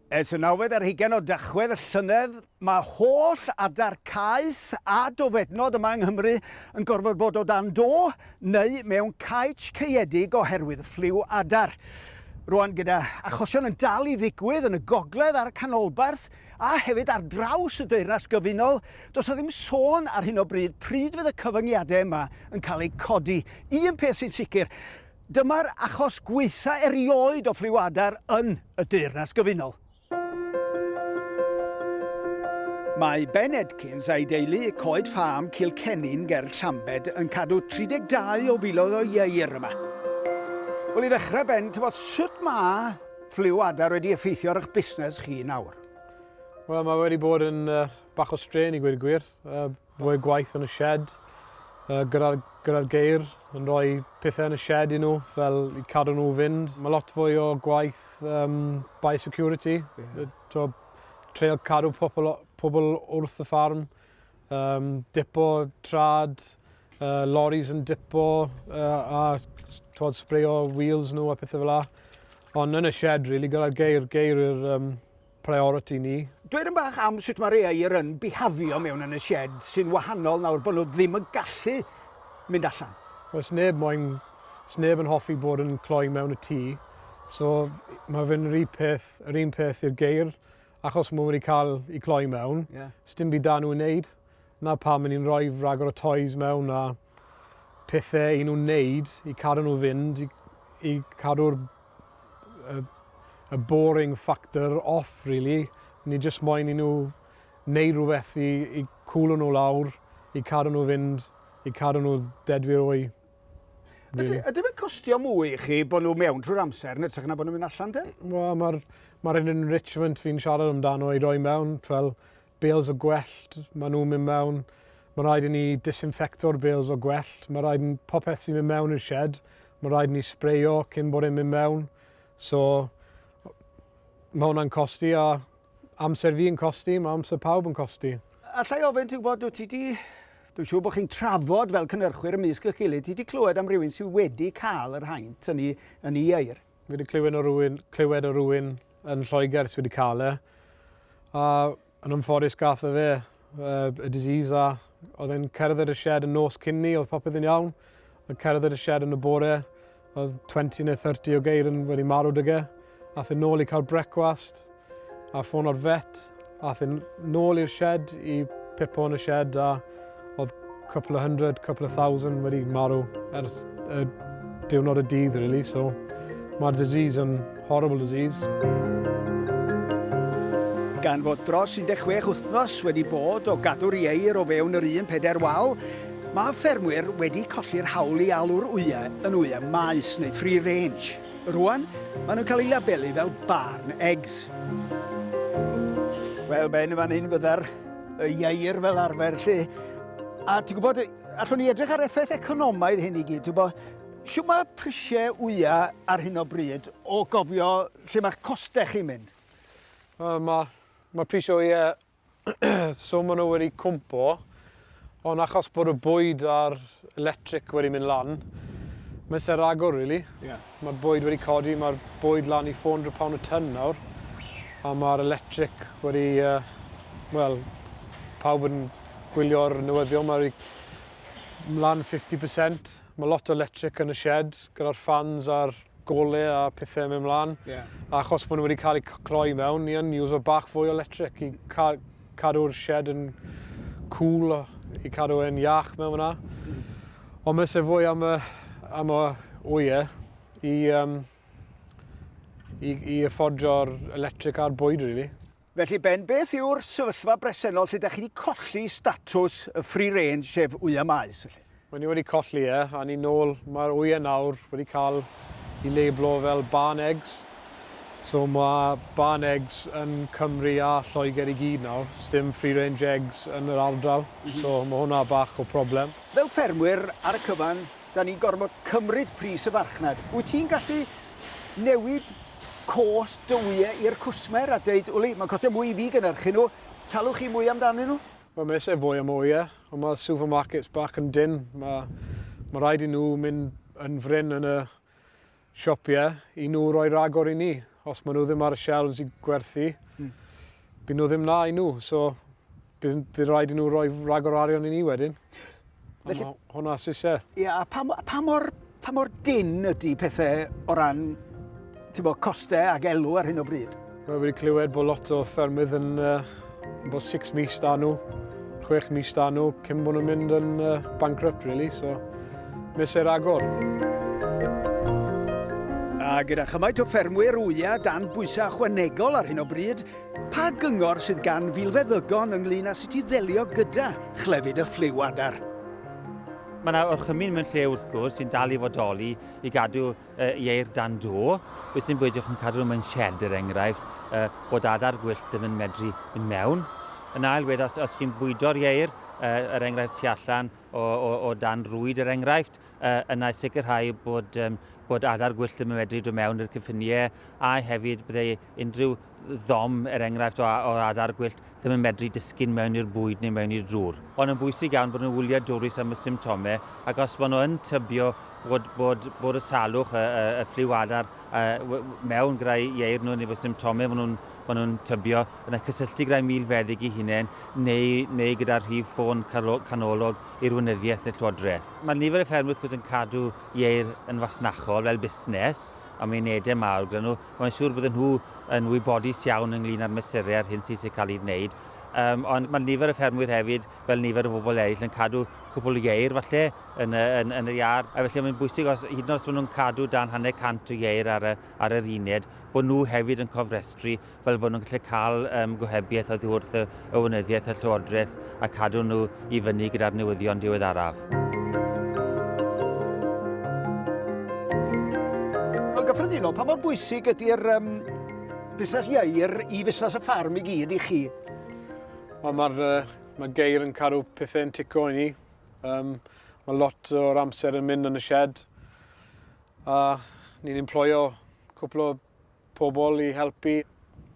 Ers y nawfed ar hugain o Dachwedd y llynedd, mae holl adar caeth a dofednod yma yng Nghymru yn gorfod bod o dan do neu mewn caets caeedig oherwydd ffliw adar. Rwan gyda achosion yn dal i ddigwydd yn y gogledd a'r canolbarth a hefyd ar draws y Deyrnas Gyfunol, does 'na ddim sôn ar hyn o bryd pryd fydd y cyfyngiadau yma yn cael eu codi. Un peth sy'n sicr, Dyma'r achos gwaetha erioed o ffliw adar yn y Deyrnas Gyfunol. Mae Ben Edkins a'i deulu, Coed Ffâm Cilcennin ger Llambed, yn cadw 32 o filoedd o ieir yma. Wel, i ddechrau, Ben, tybod sut mae ffliw adar wedi effeithio ar eich busnes chi nawr? Wel, mae wedi bod yn uh, bach o strain i gwir gwir. Uh, Rhoi gwaith yn y sied gyda'r geir yn rhoi pethau yn y sied i nhw fel i cadw nhw fynd. Mae lot fwy o gwaith biosecurity, treol cadw pobl wrth y ffarm, dipo trad, loris yn dipo a sbreio wheels nhw a pethau fel yna. Ond yn y sied rili gyda'r geir, geir yw'r yym... priority ni. Dweud yn bach am sut mae rhai yr yn bihafio mewn yn y shed sy'n wahanol nawr bod nhw ddim yn gallu mynd allan. Wel, sneb moyn, sneb yn hoffi bod yn cloi mewn y tŷ. So mae fe'n rhi peth, yr un peth i'r geir, achos mae wedi cael i cloi mewn, yeah. sdim byd da nhw wneud. Na pam, ni'n rhoi rhagor o toys mewn a pethau i nhw wneud i cadw nhw fynd, i i cadw'r y y boring factor off rili. Ni jyst moyn i nhw wneud rhywbeth i i cwlo nhw lawr, i cadw nhw fynd, i cadw nhw dedfwyr o i Ydy ydy fe'n costio mwy i chi bod nhw mewn trwy'r amser yn ytrach na bod nhw'n mynd allan te? Wel ma'r ma'r un enrichment fi'n siarad amdano i roi mewn fel bales o gwellt, maen nhw'n mynd mewn, mae rhaid i ni disinfecto'r bales o gwellt, mae rhaid i popeth sy'n mynd mewn i'r shed, mae rhaid i ni sbreio cyn bod e'n mynd mewn. So, mae hwnna'n costi a amser fi yn costi, mae amser pawb yn costi. Allai ofyn ti gwybod, dwi ti di... Dwi'n siŵr bod chi'n trafod fel cynnyrchwyr ymysg eich gilydd, ti wedi clywed am rywun sydd wedi cael yr haint yn ei, yn ei eir? Fi wedi clywed o rywun, clywed o rywun yn Lloegr sydd wedi cael e. A yn ymfforus gath o fe uh, y disease a oedd e'n cerdded y shed yn nos cyn ni, oedd popeth yn iawn. Oedd cerdded y shed yn y bore, oedd 20 neu 30 o geir yn wedi marw dyge. Ath yn ôl i cael brecwast, a ffono'r vet, ath e nôl i'r shed i pipo yn y shed a oedd couple of hundred, couple of thousand wedi marw ers y diwrnod y dydd, really. So, mae'r disease yn horrible disease. Gan fod dros 16 wythnos wedi bod o gadw'r ieir o fewn yr un peder wal, mae ffermwyr wedi colli'r hawl i alw'r wyau yn wyau maes neu free range. Rwan, maen nhw'n cael eu labelu fel barn eggs. Wel, ben y fan hyn fydda'r y ieir fel arfer lle. A ti'n gwybod, allwn ni edrych ar effaith economaidd hyn i gyd. Ti'n gwybod, siw mae prisiau wya ar hyn o bryd o gofio lle mae'ch costau chi'n mynd? Wel, mae, mae prisiau wya so maen nhw wedi cwmpo, ond achos bod y bwyd a'r electric wedi mynd lan, mae'n ser agor, really. Yeah. Mae'r bwyd wedi codi, mae'r bwyd lan i 400 pound y tyn nawr, a mae'r electric wedi, uh, wel, pawb yn gwylio'r newyddion, mae wedi lan 50%. Mae lot o electric yn y shed, gyda'r fans a'r gole a pethau yn mynd mlaen. Yeah. Achos bod nhw wedi cael eu cloi mewn, ni yn uso bach fwy o electric i ca cadw'r shed yn cool, i cadw e'n iach mewn fyna. Mm. Ond mae se fwy am y, am y oie i, um, i, i affordio'r electric a'r bwyd, really. Felly Ben, beth yw'r sefyllfa bresennol lle 'da chi 'di colli statws y free range sef wya maes felly? Wel ni wedi colli e a ni nôl, mae'r wya nawr wedi cael i labelo fel barn eggs, so mae barn eggs yn Cymru a Lloegr i gyd nawr, sdim free range eggs yn yr ardal, so mae hwnna bach o problem. Fel ffermwyr ar y cyfan, 'da ni'n gorfod cymryd pris y farchnad. Wyt ti'n gallu newid cost dy wyau i'r cwsmer a dweud, wli, mae'n costio mwy i fi gynhyrchu nhw, talwch chi mwy amdanyn nhw? Wel, mae eisiau fwy am y wyau, ond mae supermarkets bach yn dynn. Mae, mae rhaid i nhw mynd yn fryn yn y, siopie i nhw roi ragor i ni. Os maen nhw ddim ar y shelves i gwerthu, mm. byd nhw ddim na i nhw. So, bydd, bydd rhaid i nhw roi ragor arian i ni wedyn. Felly, hwnna sy'n se. Ie, a pa, pa, mor, pa mor dyn ydy pethau o ran bod, costau ac elw ar hyn o bryd? Mae wedi clywed bod lot o ffermydd yn uh, bod six mis da nhw, chwech mis da nhw, cyn bod nhw'n mynd yn uh, bankrupt, really, so miser agor. A gyda chymaint o ffermwyr wya dan bwysau chwanegol ar hyn o bryd, pa gyngor sydd gan filfeddygon ynglyn â sut i ddelio gyda chlefyd y ffliw adar? Mae yna orchymyn mewn lle wrth gwrs sy'n dal i fodoli i gadw y ieir dan do, beth sy'n bwydio chi'n cadw nhw mewn shed er enghraifft, y, bod adar gwyllt ddim yn medru mynd mewn. Yn ail wedd, os, os chi'n bwydo'r ieir, y, er enghraifft tu allan o, o, o dan rwyd er enghraifft, y, yna sicrhau bod, um, bod adar gwyllt ddim yn medru dod mewn i'r cyffiniau a hefyd byddai unrhyw ddom, er enghraifft, o, o adar gwyllt ddim yn medru disgyn mewn i'r bwyd neu mewn i'r drwr. Ond yn bwysig iawn bod nhw'n wyliadwrus am y symptomau ac os maen nhw yn tybio bod, bod, bod y salwch, y, y, y ffliw adar y, mewn grau ieir nhw neu bod symptomau maen nhw'n ma nhw tybio, yna cysylltu gyda'i milfeddyg i hunain neu, neu gyda'r rhif ffôn canolog i'r wynyddiaeth neu llywodraeth. Mae nifer y ffermwyr wrth gwrs yn cadw ieir yn fasnachol fel busnes, a mae'n edau mawr gyda nhw, Mae'n siŵr bydden nhw yn wybodus iawn ynglŷn â'r mesurau a'r hyn sy'n cael ei wneud. Um, ond mae nifer y ffermwyr hefyd, fel nifer y bobl eraill, yn cadw cwpl o ieir falle yn, yn, yn yr iard. A felly mae'n bwysig, os, hyd yn oes maen nhw'n cadw dan hanner cant o ieir ar, y, ar yr uned, bod nhw hefyd yn cofrestru fel bod nhw'n gallu cael um, gohebiaeth oddi wrth y, y Weinyddiaeth a'r Llywodraeth a cadw nhw i fyny gyda'r newyddion diweddaraf. Yn gyffredinol, pa mor bwysig ydy'r um, busnes ieir i fusnes y ffarm i gyd i chi? Wel, mae'r uh, mae geir yn cadw pethau'n tico i ni. Um, mae lot o'r amser yn mynd yn y shed. A ni'n employo cwpl o pobl i helpu.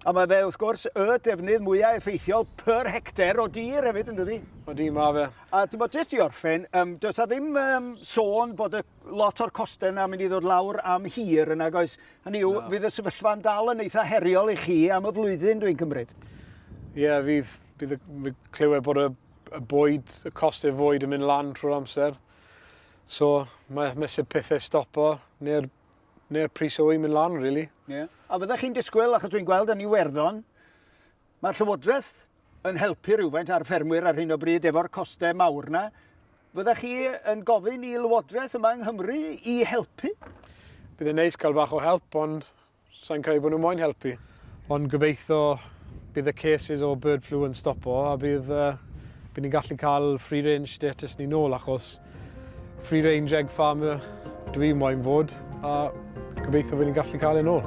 A mae fe, wrth gwrs, y defnydd mwyaf effeithiol per hecter o dir hefyd, yn dydi? Ydy, mae fe. A ti'n bod, jyst i orffen, um, does da ddim um, sôn bod y, lot o'r costau yna mynd i ddod lawr am hir yna, goes. Hynny yw, no. fydd y sefyllfa'n dal yn eitha heriol i chi am y flwyddyn, dwi'n cymryd. Ie, yeah, fydd, bydd, bydd clywed bod y, y bwyd, y costau fwyd yn mynd lan trwy'r amser. So, mae mesur pethau stopo, neu'r neu'r pris o'i mynd lan, really. Ie. A fyddech chi'n disgwyl, achos dwi'n gweld yn Iwerddon, mae'r Llywodraeth yn helpu rhywfaint ar ffermwyr ar hyn o bryd efo'r costau mawr na. Fyddech chi yn gofyn i Lywodraeth yma yng Nghymru i helpu? Bydd yn neis cael bach o help, ond sa'n credu bod nhw moyn helpu. Ond gobeitho bydd y cases o bird flu yn stopo a bydd, uh, bydd ni'n gallu cael free range status ni nôl achos free range egg farmer dwi moyn fod a gobeitho bydd ni'n gallu cael e'n ôl.